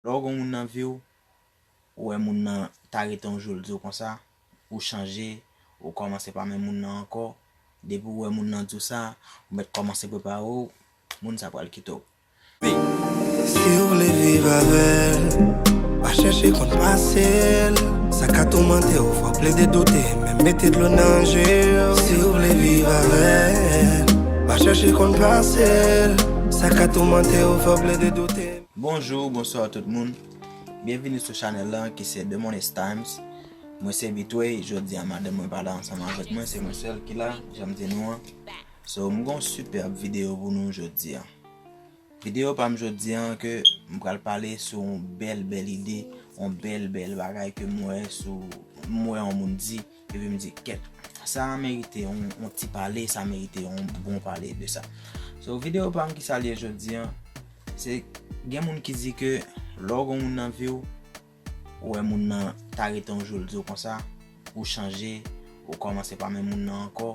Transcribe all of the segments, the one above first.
Lè w gen yon moun nan vi w, ou wè moun nan ta rete yon jou l di w konsa, ou chanje, ou kòmanse pa menm moun nan ankò, depi w wè moun nan di w sa, ou mèt kòmanse prepare w, moun sa pral kite w. Men, si w vle viv avè l, pa chèche konn pase l, sa ka toumante w, fò w plede doute, menm mete dlo nan je w. Si w vle viv avè l, pa chèche konn pase l, sa ka toumante w, fò w plede doute. Bonjour bonsoir tout moun byenvini sou chanèl lan ki se Demonis Times mwen se Bitoy jodi a madanm mwen pa la ansanm avèk mwen se mwen sèl ki la janm di nou an so m gon sipèb videyo pou nou jodi a videyo pa m jodi a ke m pral pale sou yon bèl bèl ide yon bèl bèl bagay ke m wè sou m wè yon moun di. Epi m di kèt. Sa merite yon ti pale, sa merite yon bon pale de sa. So video pa m ki sa l ye jodi an, se gen moun ki di ke lè w gen yon moun nan vi w, ou wè moun nan ta rete yon jou l di w konsa, ou chanje, ou kòmanse pa menm moun nan ankò,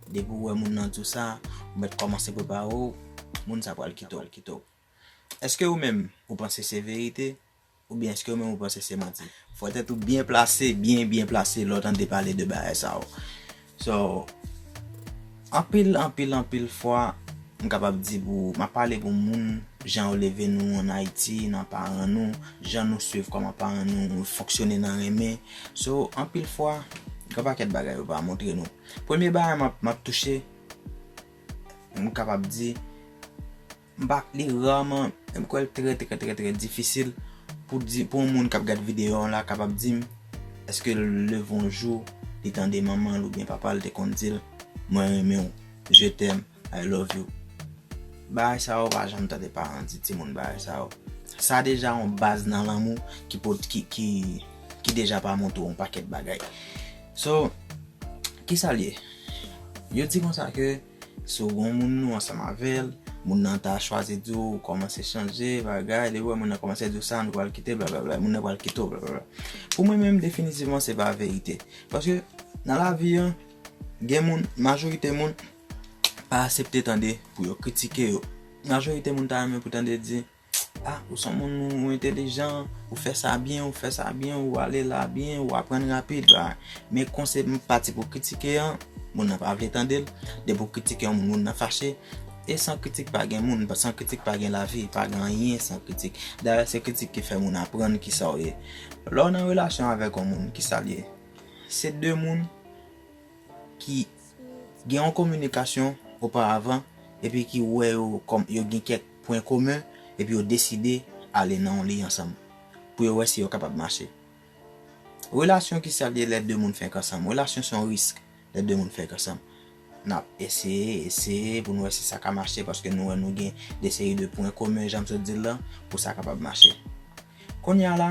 depi ou wè moun nan di w sa, ou mèt kòmanse prepare w, moun sa pral kite w. Eske ou menm ou panse se verite? Oubyen eske ou menm ou panse se manti? Fò tèt ou byen plase, byen byen plase lè w tande pale de bagay sa yo. So, anpil, anpil, anpil fwa, m kapab di pou, m ap pale pou moun, jan yo leve nou an Ayiti, nan paran nou, jan nou swiv kòman paran nou fonksyone nan renmen. So, anpil fwa, gen yon pakèt bagay yo pa montre nou. Premye bagay m ap, m ap touche, m kapab di. M pa li raman, men m kwè l trè trè trè trè difisil pou di, pou yon moun k ap gad videyo an la kapab di m èske l leve yon jou li tande manman l oubyen papa l te konn di l mwen renmen w, je t'aime, I love you. Bagay sa yo ou pa janm tande paran di timoun bagay sa yo. Sa deja yon baz nan lanmou ki pot ki ki ki deja pa montre w yon pakèt bagay. So, kisa l ye? Yo di konsa ke. Si w gon moun ou ansanm avèl, moun nan ta chwazi di w ou kòmanse chanje bagay, depi w wè moun nan kòmanse di w sa nou pral kite blablabla, moun nan pral kite w blablabla. Pou mwen menm definitivman se pa verite. Paske nan lavi an gen moun, majorite moun pa asepte tande pou yo kritike yo. Majorite moun ta renmen pou tande di. Ah ou son moun ou entelijan, ou fè sa byen, ou fè sa byen, ou ale la byen, ou aprann rapid. Men kon se pati pou kritike an, moun nan pa vle tande l. Depi ou kritike yon moun, moun nan fache. E san kritik pa gen moun, san kritik pa gen lavi, pa gen anyen san kritik. Dayè se kritik ki fè moun aprann ki sa ou ye. Lè ou nan relasyon avèk yon moun, ki sa l ye? Se de moun ki gen yon kominikasyon oparavan epi ki wè yo kòm yo gen kèk pwen komen epi yo deside ale nan yon liy ansanm pou yo wè si yo kapab mache. Relasyon ki sa l ye lè de moun fenk ansanm? Relasyon se yon risk lè de moun fenk ansanm. N ap eseye, eseye pou nou wè si sa ka mache paske nou wè nou gen de seri de pwen komen jan m sot di l lan pou sa kapab mache. Konnya la,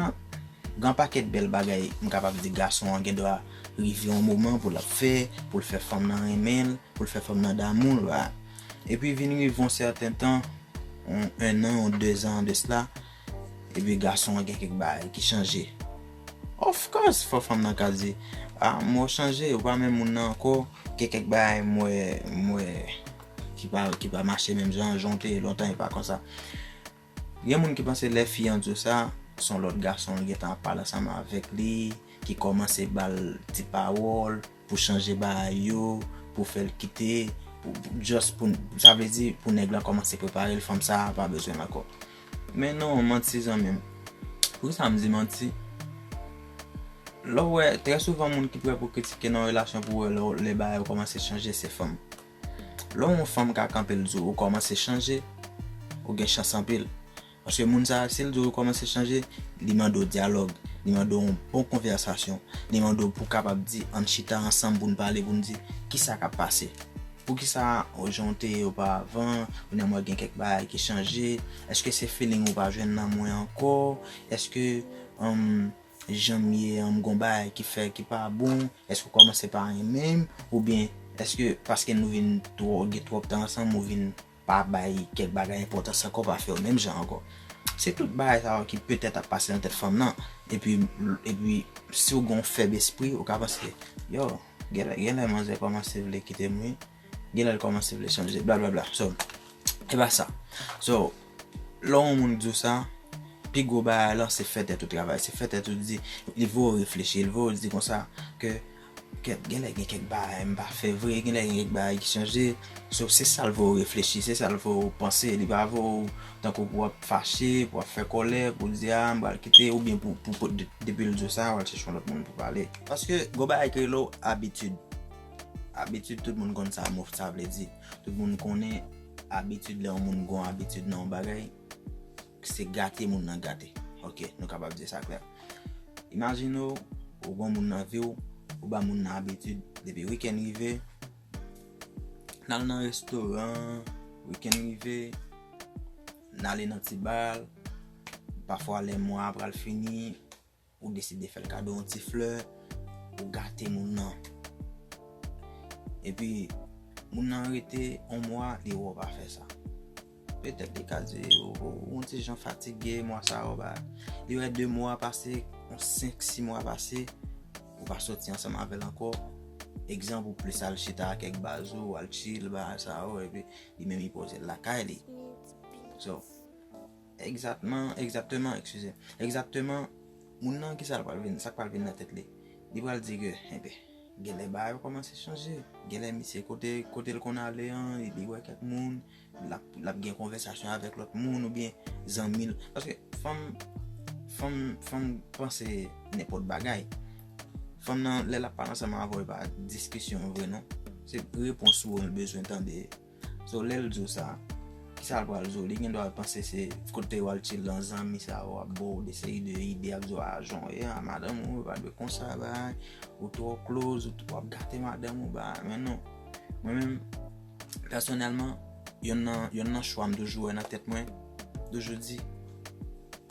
gen yon pakèt bèl bagay m kapab di gason an gen dwa rive yon moman pou l ap fè, pou l fè fanm nan renmen l, pou l fè fanm nan damou l, a. Epi vin rive yon sèten tan, yon ennan, yon dezan de sla, epi gason an gen kèk bagay ki chanje. Of course, fò fanm nan ka di, a, m wè w chanje, ou pa menm moun nan ankò, gen kèk bagay m wè, m wè ki pa, ki pa mache menm jan, jan w te ye lontan e pa konsa. Gen moun ki panse lè fi an di w sa, son lòt gason li gentan ap pale ansanm avèk li, ki kòmanse ba l ti pawòl pou chanje bagay yo, pou fè l kite, just pou, sa vle di pou nèg lan kòmanse prepare l, fanm sa a pa bezwen l ankò. Men non, manti zanmi m. Poukisa m di manti? Lè w wè, trè souvan moun ki prè pou kritike nan yon relasyon pou wè lè bagay yo kòmanse chanje se fanm. Lè w yon fanm ka kanpe l di w ou kòmanse chanje, ou gen chans anpil. Paske moun sa a si l di w ou kòmanse chanje, li mande w dyalòg, li mande w yon bon konvèsasyon, li mande w pou w kapab di an n chita ansanm pou n pale pou n di kisa k ap pase. Poukisa ou jan w te ye ou pa avan, kounya m wè gen kèk bagay ki chanje, èske se feeling ou pa jwenn nan mwen ankò, èske. janm ye an m gon bagay ki fè ki pa bon eske ou kòmanse pa renmen m oubyen eske paske nou vin twò gen twòp tan ansanm ou vin pa bay kèk bagay enpòtans ankò pa fèw menm jan ankò se tout bagay sa yo ki petèt ap pase nan tèt fanm nan epi epi siw gon fèb espri ou ka panse yow genlè manzè kòmanse vle kitem wi. Genlè l kòmanse vle chanje blablabla so e pa sa so lè yon moun di w sa pi gwo bagay lan se fè tèt ou travay se fè tèt ou di li vo w reflechi li vo w di konsa ke genlè gen kèk bagay m pa fè vre genlè gen kèk bagay ki chanje so se sa l vo w reflechi se sa l vo w panse li pa vo w tankou pou w ap fache pou w ap fè kòlè pou w di a m pral kite ou byen pou depi l di w sa w al chèche yon lòt moun pou pale paske gwo bagay ki rele w abitid. Abitid tout moun konn sa mòf sa vle di. Tout moun konnen abitid lè yon moun gon abitid nan yon bagay, se gate moun nan gate. Ok, nou kapab di sa klè. Imajine w, ou gon moun nan vi w, ou ba moun nan abitid depi wikèn rive, n al nan restoran, wikèn rive, n ale nan ti bal, pafwa lè mwa a pral fini, Ou deside fè l kado yon ti flè, ou gate moun nan. Epi, moun nan rete yon mwa, li wè w pa fè sa. Petèt li ka di, ou yon ti jan fatige, mwa sa a ou pa. Li wè de mwa pase, yon senk, si mwa pase, ou pa soti ansanm avè l ankò. Egzanp, ou plis al chita ak kèk baz ou, al chill, bagay sa yo, epi li menm li poze l lakay li. So. Egzatman, egzakteman, ekskize. Egzakteman, moun nan ki sa l pral vin, sa k pral vin nan tèt li. Li pral di ke, enben, genlè bagay yo kòmanse chanje. Genlè misye kote, kote l konn ale an, li wè kèk moun, l ap, l ap gen konvèsasyon avèk lòt moun oubyen zanmi l. Paske fanm, fanm, fanm panse nenpòt bagay. Fanm nan, lè l ap pale ansanm avè w, e pa diskisyon vre non. Se repons ou an l bezwen tande. So lèl diw sa, kisal pral diw, li gendwa al panse se kotew al chill lan zanmi sa yo ap baw de seri de ide yap diw ah jan w ye an madanm ou pa dwe konsa bagay, ou twò kloz, ou wap gate madanm ou bagay, men non mwen menm pèsonèlman yonn nan yonn nan chwa m toujou wè nan tèt mwen, toujou di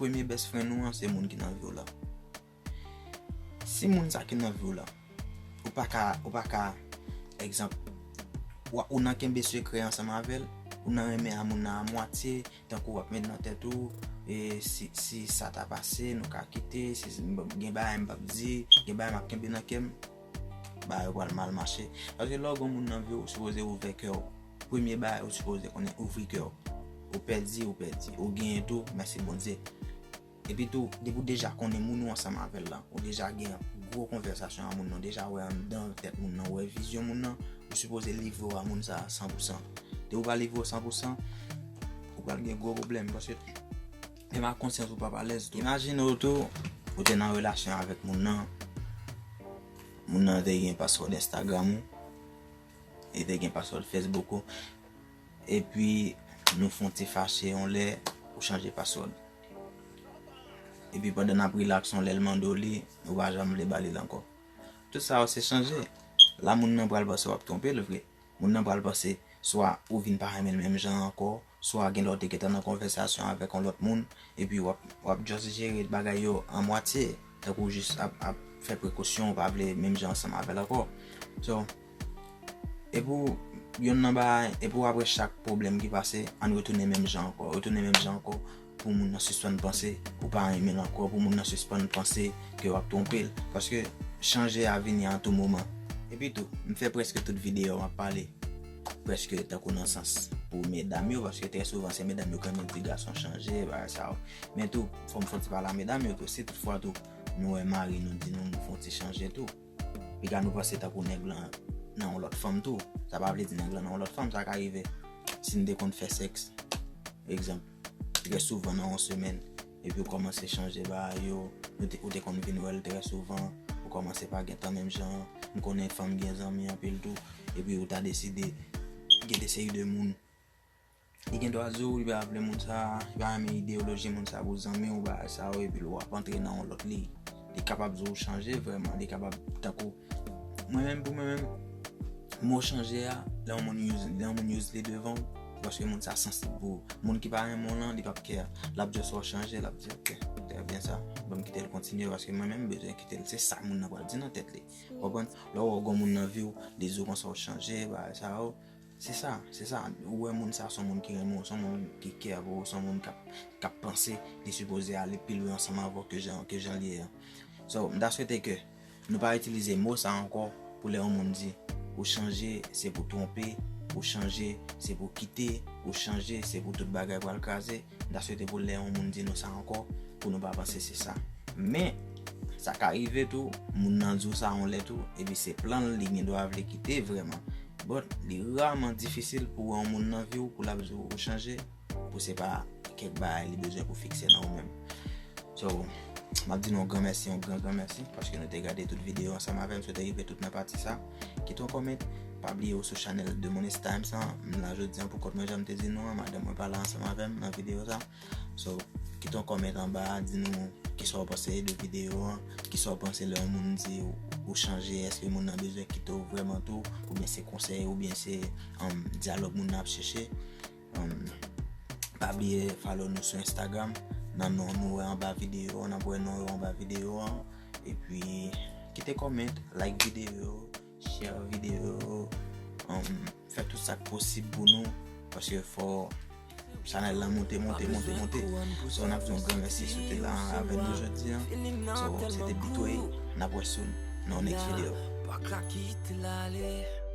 premye best friend ou an se moun ki nan viw lan. Si moun sa ki nan viw lan ou paka ou paka egzanp ou nan kenbe sekrè ansanm avèl ou nan renmen a moun nan a mwatye tankou wap met nan tèt ou e si si sa ta pase nou ka kite si gen bagay m pap di gen bagay map kenbe nan kèm bagay yo pral mal mache paske lè ou gen moun nan viw ou sipoze ouvè kèw premye bagay ou sipoze konnen ouvri kèw ou pèdi ou pèdi ou genyen tou mèsi Bondye. Epi tou, depi w deja konnen moun ou ansanm avè l lan, ou deja gen yon gwo konvèsasyon ak moun nan, ou deja wè anndan tèt moun nan, ou wè vizyon moun nan, ou sipoze livre w a moun sa a san pou san. Depi w pa livre w san pou san, ou pral gen gwo pwoblèm paske menm ak konsyans ou pap alèz tou. Imajine w tou, ou te nan relasyon avèk moun nan, moun nan te gen password Instagram ou, li te gen password Facebook ou, Epi nou fon ti fache yon lè ou chanje password. Epi pandan nap relax yon lèl mande w li, ou pa janm vle ba lil ankò. Tout sa yo se chanje. La moun nan pral panse wap twonpe l vre. Moun nan pral panse swa ou vin pa renmen l menm jan ankò, swa genlè w te gentan nan konvèsasyon avèk yon lòt moun, epi wap just jere bagay yo a mwatye, tankou w jis ap fè prekosyon ou pa vle menm jan ansanm avèl ankò. So. Epou yonn nan bagay, epou apre chak pwoblèm ki pase, ann retounen menm jan ankò, retounen menm jan ankò pou moun nan sispann panse ou pa renmen l ankò, pou moun nan sispann panse ke w ap twonpe l. Paske chanje a vini a tou moman. Epi tou, m fè prèske tout videyo m ap pale prèske tankou nan sans pou medam yo, paske trè souvan se medam yo k renmen di gason chanje, bagay sa yo. Men tou, fò m fon ti pale a medam yo tou, si tout fwa tou nou wè mari nou di nou fon ti chanje tou. Piga nou panse tankou nèg lan nan yon lòt fanm tou. Sa pa vle di nèg lan nan yon lòt fanm. Sa ka rive si n te konn fè sèks, egzanp, trè souvan nan yon semèn, epi ou kòmanse chanje bagay yo, ou te konn vin wè l trè souvan, ou kòmanse pa gen tan menm jan an, m konnen fanm gen zanmi anpil tou, epi ou ta deside gen de seri de moun Li gen dwa di w li pa vle moun sa a, li pa renmen ideyoloji moun sa a pou zanmi ou bagay sa yo epi l wap antre nan yon lòt liy. Li kapab di w chanje vrèman, li kapab tankou mwen menm pou mwen menm mo chanje a lè yon moun use lè yon moun use li devan w se paske moun sa sansib pou ou. Moun ki pa renmen w lan li pap kè, lap jès wè w chanje lap di ok trè byen sa banm kite l kontinye paske mwen menm m bezwen kite l se sa moun nan pral di nan tèt li. Ou konprann? Lè w wè w gen yon moun nan vi w li di w konsa w chanje bagay sa yo. Se sa, se sa, ou wè moun sa son moun ki renmen w, son moun ki kè avè w, son moun k ap panse li sipoze ale pi lwen ansanm avè w ke jan ke jan l ye an. So, m ta swete ke nou pa itilize mo sa ankò pou lè yon moun di ou chanje se pou twonpe, ou chanje se pou kite, ou chanje se pou tout bagay pral kraze. M ta swete pou lè yon moun di nou sa ankò, pou nou pa panse se sa. Men, sa ka rive tou, moun nan di w sa yon lè tou, epi se plan l, li gen dwa vle kite vrèman. But, li raman difisil pou w wè yon moun nan vi w pou l ap di w ou chanje, pou se pa kèk bagay li bezwen pou fikse nan ou menm. So, m ap di nou yon gran mèsi, yon gran gran mèsi, paske nou te gade tout videyo ansanm avè m, sou te rive tout nan pati sa. Kite yon comment, pa bliye ou sou channel The Money's Times an, m la jodi an pou kont mwen janm te di nou an, madanm mwen pa la ansanm avèm nan video sa. So, kite yon comment anba, di nou kisa ou panse de video an, kisa ou panse lè yon moun di ou chanje, eske moun nan bezwen kite ou vrèman tou, oubyen se konsèy, oubyen se um, dyalòg moun nan ap chèche. Pa bliye follow nou sou Instagram nan non nou wè anba videyo nan wè non yo anba videyo an epi kite comment like videyo share videyo fè tout sak posib pou nou paske fò chanèl la monte monte monte monte so nap di yon gran mèsi si w te la avè nou jodi an so se te Bitoye nap wè sou nan yon next video